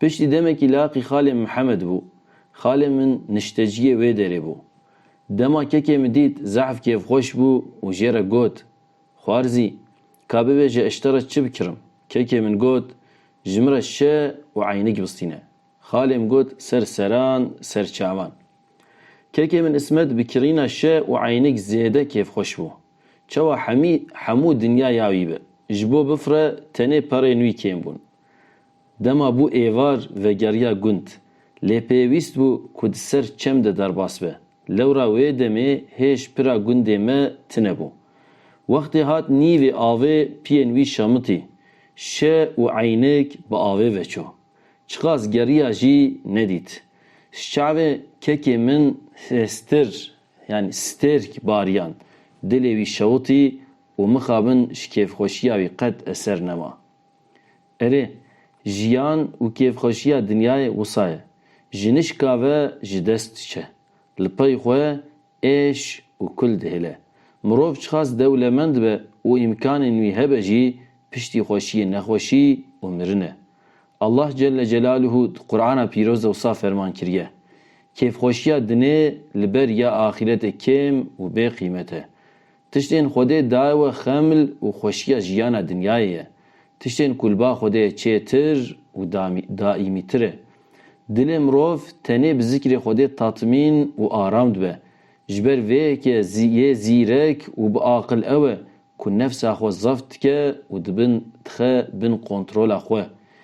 Piştî demekî laqî xalê Mihemed bû. Xalê min nişteciyê wê derê bû. Dema kekê min dît zehf kêfxweş bû û jê re got, Xwarzî, ka bibe ji eşte re çi bikirim? Kekê min got, Ji min re şe û eynik bistîne. Xalê min got, Ser seran, ser çavan. Kekê min Îsmet bi kirîna şe û eynik zêde kêfxweş bû. Çawa hemî hemû dinya ya wî be. Ji bo bifire tenê perên wî kêm bûn. Dema bû êvar vegeriya gund. Lê pêwîst bû ku di ser çem de derbas be. Lewra wê demê hêj pira gundê me tine bû. Wextê hat nîvê avê piyên wî şamitî. Şe û eynik bi avê veçû. Çiqas geriya jî nedît. Ji çavê kekê min stir yanî stêrk bariyan. Dilê wî şewitî û mixabin ji kêfxweşiya wî qet eser nema. Erê, jiyan û kêfxweşiya dinyayê wisa ye. Jinişka ve ji dest diçe. Li pey xwe êş û kul dihêle. Mirov çiqas dewlemend be û îmkanên wî hebe jî piştî xweşiyê nexweşî û mirin e. Allah Celle Celaluhu di Qur'ana pîroz de wisa ferman kiriye, Kêfxweşiya dinê li ber ya axîretê kêm û bêqîmet e. Tiştên Xwedê daye we xeml û xweşiya jiyana dinyayê ye. Tiştên ku li ba Xwedê ye çêtir û daîmîtir e. Dilê mirov tenê bi zikrê Xwedê tatmîn û aram dibe. Ji ber vê yekê yê zîrek û bi aqil ew e ku nefsa xwe zeft dike û dibin dixe bin kontrola xwe.